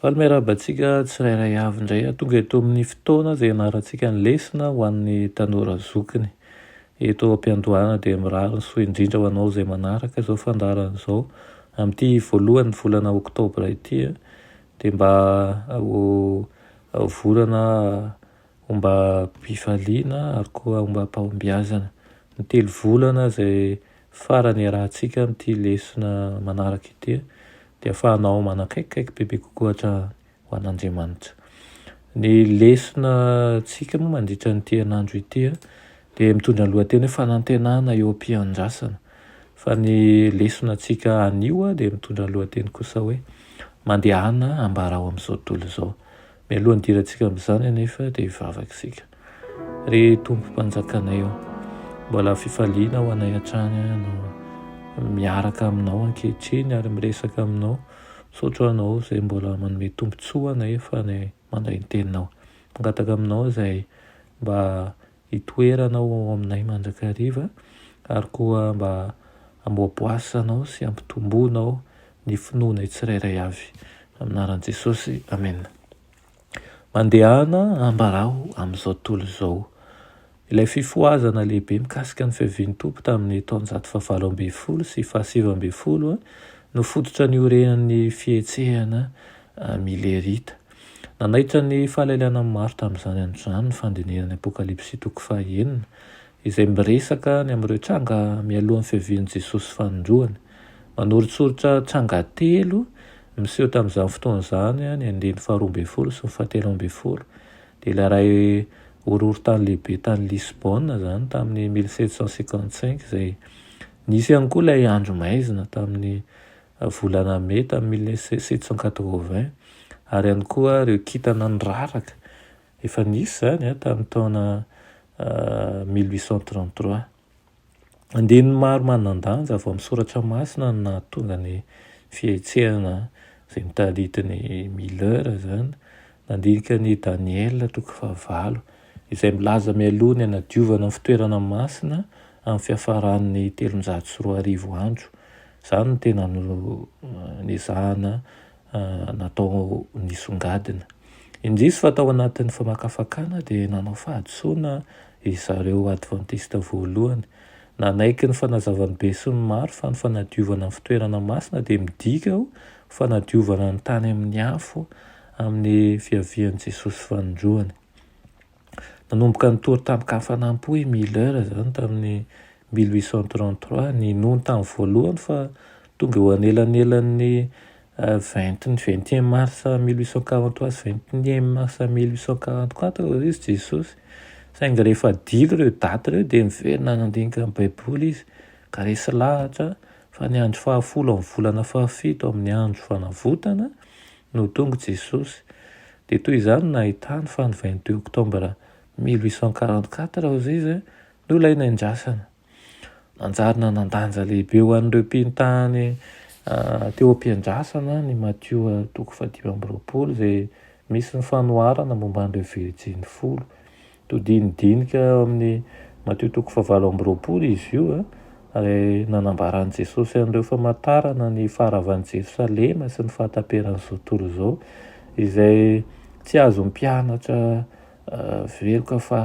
Faly miarahaba antsika tsirairay avy indray a! Tonga eto amin'ny fotoana izay hianarantsika ny lesona ho an'ny tanora zokiny. Eto am-piandohana dia mirary ny soa indrindra ho anao izay manaraka izao fandaharana izao amin'ity voalohan'ny volana oktobra ity dia mba ho volana ombam-pifaliana ary koa ombam-pahombiazana. Ny telo volana izay farany iarahantsika amin'ity lesona manaraka ity dia ahafahanao manakaikikaiky bebe kokoa hatrany ho an'Andriamanitra. Ny lesona antsika moa mandritra an'ity herinandro ity dia mitondra ny lohateny hoe fanantenana eo am-piandrasana fa ny lesona antsika anio dia mitondra ny lohateny kosa hoe mandehana ambarao amin'izao tontolo izao. Mialoha nidirantsika amin'izany anefa dia hivavaka isika. Ry Tompo Mpanjakanay ô, mbola fifaliana ho anay hatrany no miaraka aminao ankehitriny ary miresaka aminao. Misaotra ho anao izay mbola manome tombontsoa ho anay fa ny mandray ny teninao. Mangataka aminao izay mba Hitoera anao ao aminay mandrakariva, ary koa mba hamboaboasanao sy hampitomboanao ny finoanay tsirairay avy. Amin'ny anaran'i Jesosy, amena. Mandehana ambaraho amin'izao tontolo izao. Ilay fifohazana lehibe mikasika ny fiavian'ny Tompo tamin'ny taonjato fahavalo ambin'ny folo sy fahasivy ambin'ny folo no fototra niorenan'ny fihetsehana Milerita. Nanaitra ny fahalailanan'ny maro tamin'izany androizany ny fandinihana ny Apokalypsy toko fahaenina, izay miresaka ny amin'ireo tranga mialohan'ny fiavian'i Jesosy fanindroany. Manoritsoritra tranga telo miseho tamin'izany fotoana izany ny andininy faharoa ambin'ny folo sy ny fahatelo ambin'ny folo, dia ilay iray horohorontany lehibe tany Lisbona izany tamin'ny mille sept cent cinquante-cinq izay, nisy ihany koa ilay andro maizina tamin'ny volana Mai tamin'ny mille sept cent quatre-vingts, ary ihany koa ireo kintana niraraka, efa nisy izany tamin'ny taona mille huit cent trente-trois. Andininy maro manan-danja avy ao amin'ny Soratra Masina no nahatonga ny fihetsehana izay mitarity ny Miller izany, nandinika ny Daniela toko fahavalo, izay milaza mialoha ny hanadiovana ny fitoerana masina amin'ny fiafaran'ny telonjato sy roa arivo andro, Izany no tena nezahana natao nisongadina. Indrisy fa tao anatin'ny famakafakana dia nanao fahadisoana ry zareo Advantista voalohany. Nanaiky ny fanazavan'ny besinimaro fa ny fanadiovana ny fitoerana masina dia midika ho fanadiovana ny tany amin'ny afo amin'ny fiavian'i Jesosy fanindroany. Nanomboka nitory tamin-kafanam-po i Miller izany tamin'ny mille huit cent trente-trois. Ninoany tamin'ny voalohany fa tonga eo anelanelan'ny vingt ny vingt et un mars mille huit cent quarante-trois sy vingt et un mars mille huit cent quarante-quatre hoy izy Jesosy. Saingy rehefa adilo ireo daty ireo dia niverina nandinika ny Baiboly izy ka resy lahatra fa ny andro fahafolo amin'ny volana fahafito amin'ny Andro Fanavotana no tonga Jesosy. Dia toy izany nahitany fa ny vingt deux octobre mille huit cent quarante quatre hozy izy no ilay niandrasana. Nanjary nanan-danja lehibe ho an'ireo mpino tany teo am-piandrasana ny Matio toko fahadimy amby roapolo izay misy ny fanoharana momba an'ireo virjiny folo. Todin'ny dinika ao amin'ny Matio toko fahavalo amby roapolo izy io, ary nanambara an'i Jesosy an'ireo famantarana ny faharavan'i Jerosalema sy ny fahataperan'izao tontolo izao, izay tsy azon'ny mpianatra veloka fa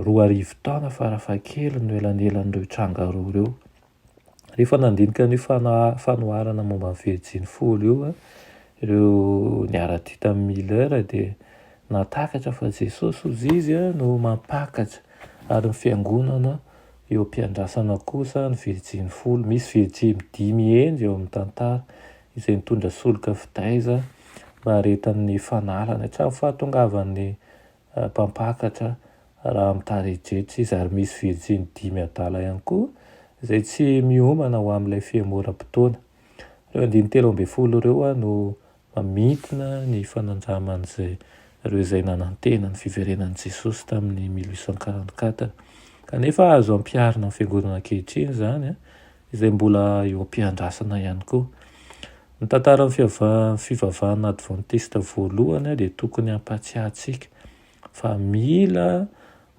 roa arivo taona farafahakeliny no elanelan'ireo tranga roa ireo. Rehefa nandinika an'io fanoharana momba ny Virjiny folo io ireo niara-dia tamin'i Miller dia nahatakatra fa Jesosy hozy izy no mampakatra ary ny Fiangonana eo am-piandrasana kosa ny Virjiny folo. Misy Virjiny dimy hendry eo amin'ny tantara izay nitondra solika fitaiza naharetan'ny fanalany hatramin'ny fahatongavan'ny mpampakatra raha amin'ny tarehijejo izy ary misy virjiny dimy adala ihany koa izay tsy miomana ho amin'ilay fihemoram-potoana. Ireo andininy telo ambin'ny folo ireo no mamintina ny fanandraman'izay ireo izay nanantena ny fiverenan'i Jesosy tamin'ny mille huit cent quarante-quatre. Kanefa azo ampiharina amin'ny fiangonana ankehitriny izany izay mbola eo am-piandrasana ihany koa. Ny tantaran'ny fivavahana advantista voalohany dia tokony hampatsiahintsika fa mila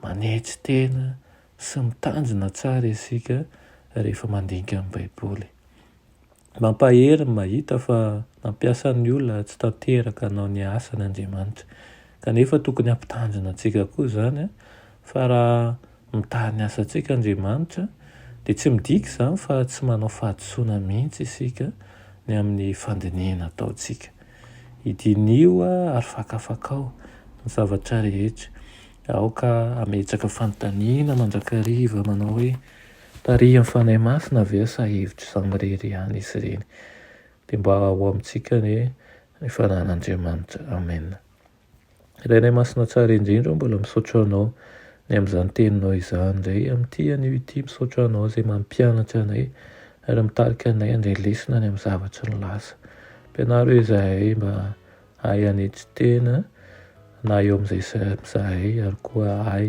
manetry tena sy mitandrina tsara isika rehefa mandinika ny Baiboly. Mampahery ny mahita fa nampiasa ny olona tsy tanteraka hanao ny asany Andriamanitra. Kanefa tokony hampitandrina antsika koa izany fa raha Mitaha ny asantsika Andriamanitra, dia tsy midika izany fa tsy manao fahadisoana mihitsy isika ny amin'ny fandinihana ataontsika. Idiniho ary fakafakao ny zavatra rehetra. Aoka hametraka fanontaniana mandrakariva manao hoe, Tarihan'ny Fanahy Masina ve sa hevitro izaho irery ihany izy ireny? Dia mba ho amintsika anie ny fananan'Andriamanitra. Amena. Rairay Masina tsara indrindra aho mbola misaotra anao ny amin'izany teninao izany indray amin'ity anio ity misaotra anao izay mampianatra anay ary mitarika anay handray lesona ny amin'ny zavatra nilaza ampianaro izahay mba hahay hanetry tena na eo amin'izay samy izahay ary koa hahay